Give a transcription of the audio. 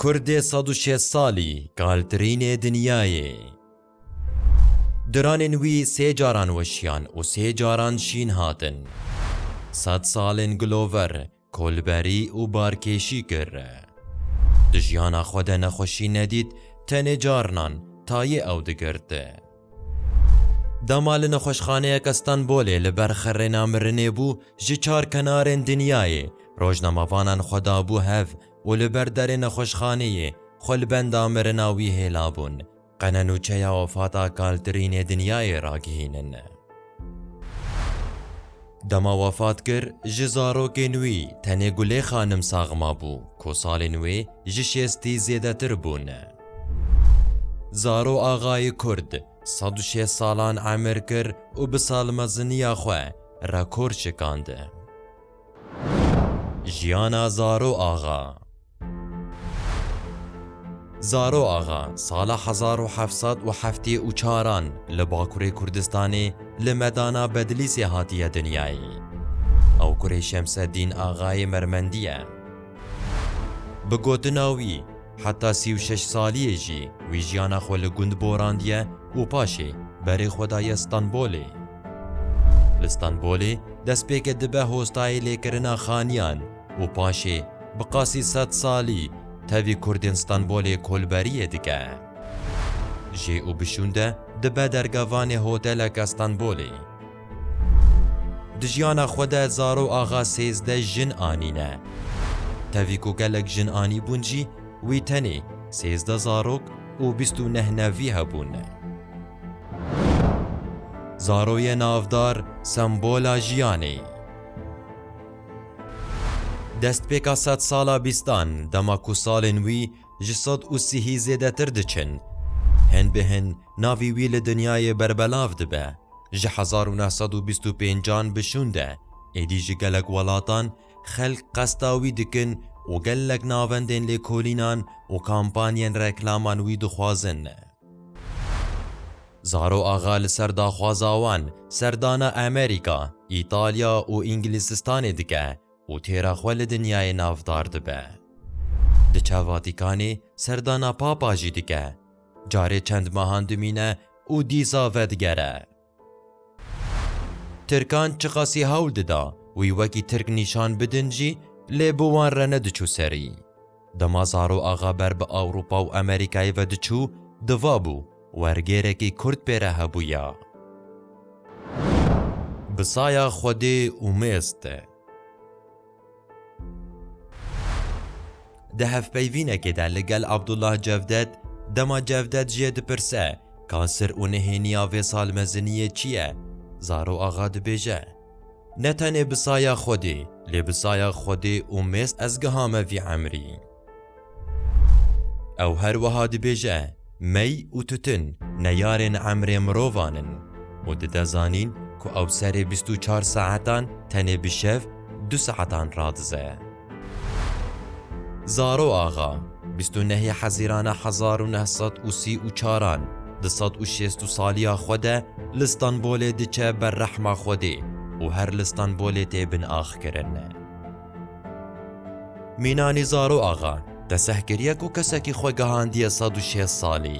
Kurdê sed û şêst salî kaltirînê dinyayê. Diranên wî sê caran weşiyan û sê caran şîn hatin. Sed salên gilover, kolberî û barkêşî kir. Di jiyana xwe de nexweşî nedît, tenê carinan tayê ew digirt. Dema li nexweşxaneyeke Stenbolê li ber xirrêna mirinê bû, ji çar kenarên dinyayê rojnamevanan xwe dabû hev û li ber derê nexweşxaneyê xwe li benda mirina wî hêla bûn, qe ne nûçeya wefata Kaltrînê dinyayê ragihînin. Dema wefat kir, ji zarokên wî tenê Gulê Xanim sax mabû ku salên wê ji şêstî zêdetir bûn. Zaro Axayê Kurd sed û şêst salan emir kir û bi salmeziniya xwe rekor şikand. Jiyana Zaro Axa Zaro Axa sala hezar û heft sed û heftê û çaran li Bakurê Kurdistanê li medana Bedlîsê hatiye dinyayê. Ew kurê Şemseddîn Axayê Mermendî ye. Bi gotina wî, heta sî û şeş saliyê jî wî jiyana xwe li gund borandiye û paşê berê xwe daye Stenbolê. Li Stenbolê destpêkê dibe hostayê lêkirina xaniyan û paşê bi qasî sed salî tevî kurdên Stenbolê kolberiyê dike. Jê û bişûnde dibe dergevanê hoteleke Stenbolê. Di jiyana xwe de Zaro Axa sêzdeh jin anîne. Tevî ku gelek jin anîbûn jî wî tenê sêzdeh zarok û bîst û neh nevî hebûn. Zaro ye navdar sembola jiyanê. Destpêka sedsala bîstan dema ku salên wî ji sed û sihî zêdetir diçin. Hin bi hin navî wî li dinyayê berbelav dibe. Ji hezar û neh sed û bîst û pênc an bi şûnde êdî ji gelek welatan xelk qesta wî dikin û gelek navendên lêkolînan û kampanyên reklaman wî dixwazin. Zaro Axa li ser daxwaza wan serdana Amerîka, Îtalya û Îngilîzistanê dike û têra xwe li dinyayê navdar dibe. Di çav Vatîkanê serdana Papa jî dike, carê çend mehan dimîne û dîsa vedigere. Tirkan çiqasî hewl dida wî wekî Tirk nîşan bidin jî lê bi wan re nediçû serî. Dema Zaro Axa ber bi Ewropa û Amerîkayê ve diçû, divabû, wergêrekî Kurd pê re hebûya. Bi saya Xwedê û mêz de. Di hevpeyvînekê de li gel Abdullah Cevdet, dema Cevdet jê dipirse, ka sir û nihêniya vê salmeziniyê çi ye, Zaro Axa dibêje. Ne tenê bi saya Xwedê, lê bi saya Xwedê û mêz ez gihame vî emrî. Ew her wiha dibêje, Mey û tutin neyarên emrê mirovan in û dide zanîn ku ew serê bîst û çar saetan tenê bi şev du saetan radize. Zaro Axa, bîst û nehê Hezîrana hezar û neh sed û sî û çaran di sed û şêst û saliya xwe de li Stenbolê diçe ber rehma Xwedê û her li Stenbolê tê binaxkirin. Mînanî Zaro Axa qeseh kiriye ku kesekî xwe gehandiye sed û şêst salî.